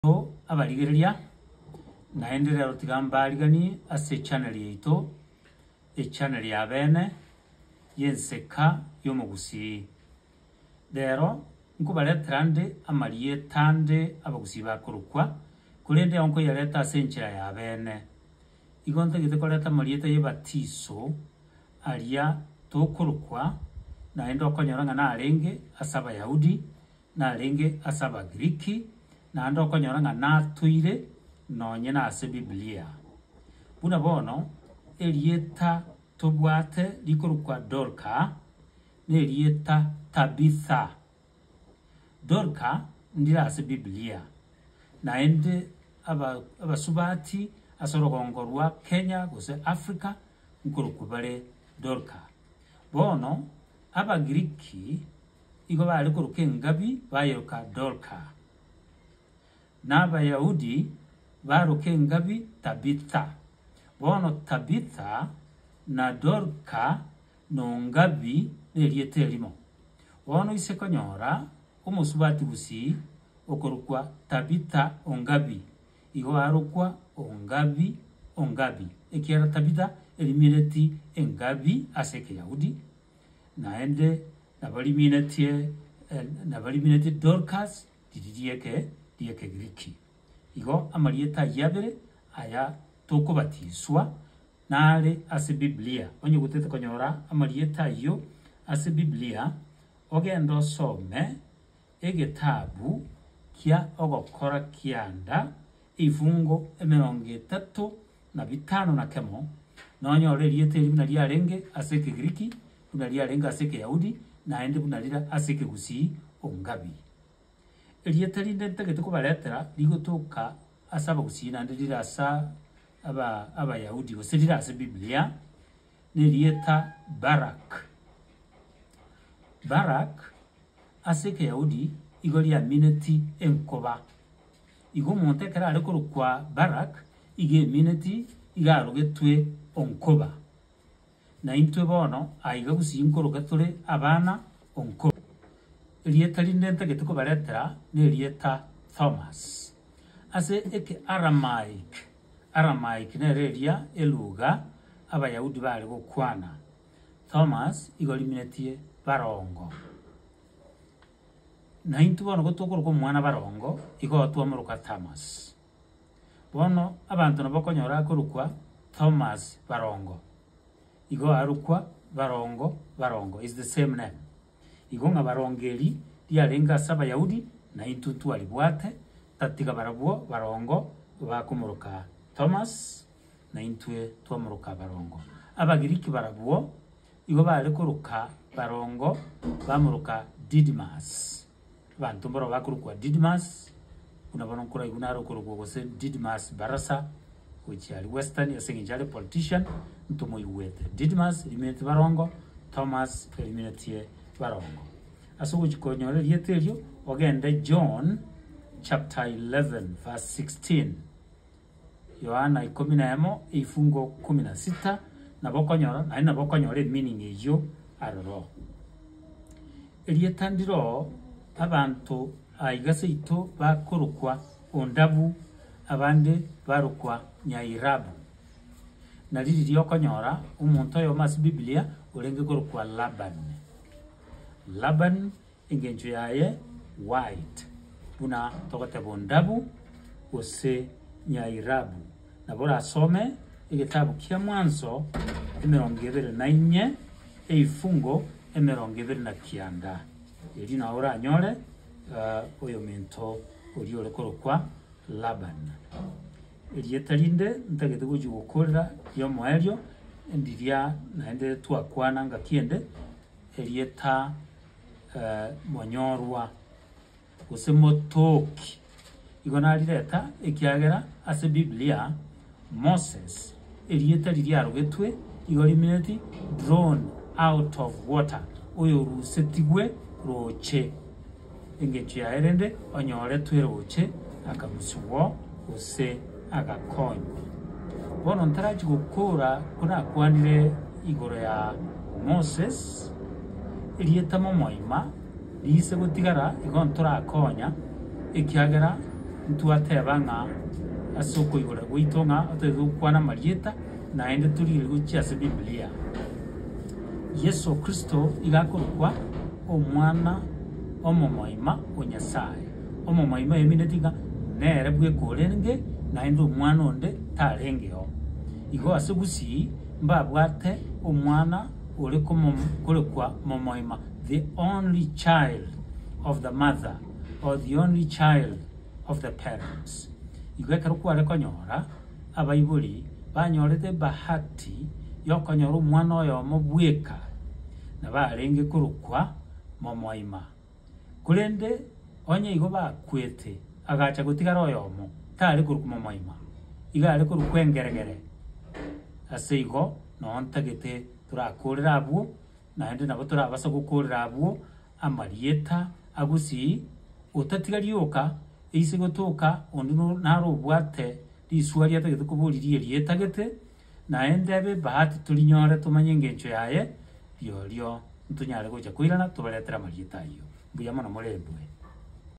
Bo abarigereria, naende rero tiga mbariganie ase echannel yaito, echannel ya bene y'enseka y'omogusii. Rero nkobaretera nde amarieta ande abagusii bakorokwa, korende yao nkoyareta ase enchera ya bene. Igo ntagete koreta amarieta y'ebatiso aria tokorokwa, naende okonyora ng'a narenge ase Abayahudi, narenge ase Abagiriki, naende okonyora ng'a natoire nonye nase Biblia. Buna bono, erieta tobwate rikorokwa Dorka nerieta Tabitha. Dorka ndire ase Biblia, naende abasubati ase orogongo rwa Kenya gose Africa nkorokwa bare Dorka. Bono Abagiriki Igo baare koruka engabi bayeroka Dorka, na Abayahudi baroka engabi Tabitha. Bono Tabitha na Dorka n'ongabi nerieta erimo. Bono ise konyora omosubati gusii okorokwa Tabitha ongabi, igo arokwa ongabi, ongabi, ekiagera Tabitha erimireti engabi ase Ekeyahudi, Naende nabariminetie, nabariminetie Dorkas riri ri'eke, ri'Ekegiriki. Igo amarieta ayio abere, aya tokobatiswa, nare ase Biblia. Onye gotete konyora amarieta ayio ase Biblia, ogende osome egetabu kia Ogokora Kianda ebifungo emerongo etato na bitano na kemo, nonyore erieta eri buna riarenge ase Ekegiriki, buna riarenge ase Ekeyahudi, naende buna rire ase Ekegusii Ongabi. Erieta rinde ntagete kobaretera rigotoka ase Abagusii naende rire ase aba Abayahudi gose rire ase Biblia, nerieta Barak. Barak ase Ekeyahudi igo riamineti enkoba. Igo omonto ekero are korokwa Barak, iga emineti iga arogetwe onkoba. Na intwe bono aiga gusii nkoroka tore abana onkoba. Erieta rinde ntagete kobaretera nerieta Thomas. Ase Ekearamaic, Aramaic nero eria eluga Abayahudi baare gokwana, Thomas igo riminetie barongo. Naintwe bono gotokoroka omwana barongo, igo twamoroka Thomas. Bono abanto nabakonyora akorokwa Thomas barongo, igo arokwa barongo barongo, is the same name. Igo ng'a barongo eri riarenge ase Abayahudi, naintwe ntwaribwate, tatiga barabwo barongo bakomoroka Thomas, naintwe twamoroka barongo. Abagiriki barabwo Igo baare koroka barongo bamoroka Didimas, abanto mborao bakorokwa Didimas, buna bono nkoraigu nare okorokwa gose Didimas Barasa, gochia aria Western, ase engencho are politician, ntomoigwete. Didimas, rimineti barongo, Thomas, eriminetiye barongo. Ase ogochia konyora erieta erio, ogende John chapter 11 verse 16. Yohana ikomi na emo, ebifungo ikomi na sita, Nabo okonyora, naende nabo okonyora emining eyio aroro. Erieta ndiro abanto aiga seito bakorokwa Ondabu, abande barokwa Nyairabu. Nari riria okonyora omonto oyomo ase Biblia orenge korokwa Laban. Laban Engencho yaye white buna togoteba ondabu gose nyairabu. Nabo orasome egetabu kia Mwanzo emerongo ebere na inye eifungo emerongo ebere na kianda. Erio nao oranyore oyomento oria ore korokwa Laban. Erieta rinde ntagete gochia gokorera riomoerio ndiria naende twakwana ngaki ende erieta. eh, monyorwa, gose motoki. Igo narireta, ekiagera ase Biblia, Moses, erieta riria riarogetwe, igo rimineti drawn out of water, oyorusetigwe roche. Engencho yaye rende onyoretwe roche, akamusugwo, gose agakonywa. Bono ntarachie gokora ko nakwanire igoro ya Moses, erieta momoima riise gotigara igo ntorakonya, ekiagera ntwateba ng'a ase okoigora gwaito ng'a otaete gokwana amarieta, naende torigereria gochia ase Biblia. Yeso Kristo nigo akorokwa Omwana omomoima o Nyasaye. Omomoime oemineti ng'a nere bweka orenge, naende omwana onde tarengeo. Igo ase gusii mbabwate omwana ore korekwa momoima, the only child of the mother, or the only child of the parents. Igo ekero kware konyora abaibori banyorete ebahati y'okonyora omwana oyomo bweka, nabarenge korokwa momoima. Korende onye igo bakwete, agacha gotigara oyomo, tare korokwa momoima, iga are korokwa engeregere. Ase igo noo ntagete torakorere abwo, naende nabo torabase gokorera abwo amarieta a Gusii, otatiga rioka, eise gotoka onde naro obwate riswa riatagete koba oririe rietagete, Naye ntebe ebahati torinyore tomanye engencho yaye, rirorio ntonyare gocha koirana tobaretere amarieta ayio. Mbuya mono morendwe.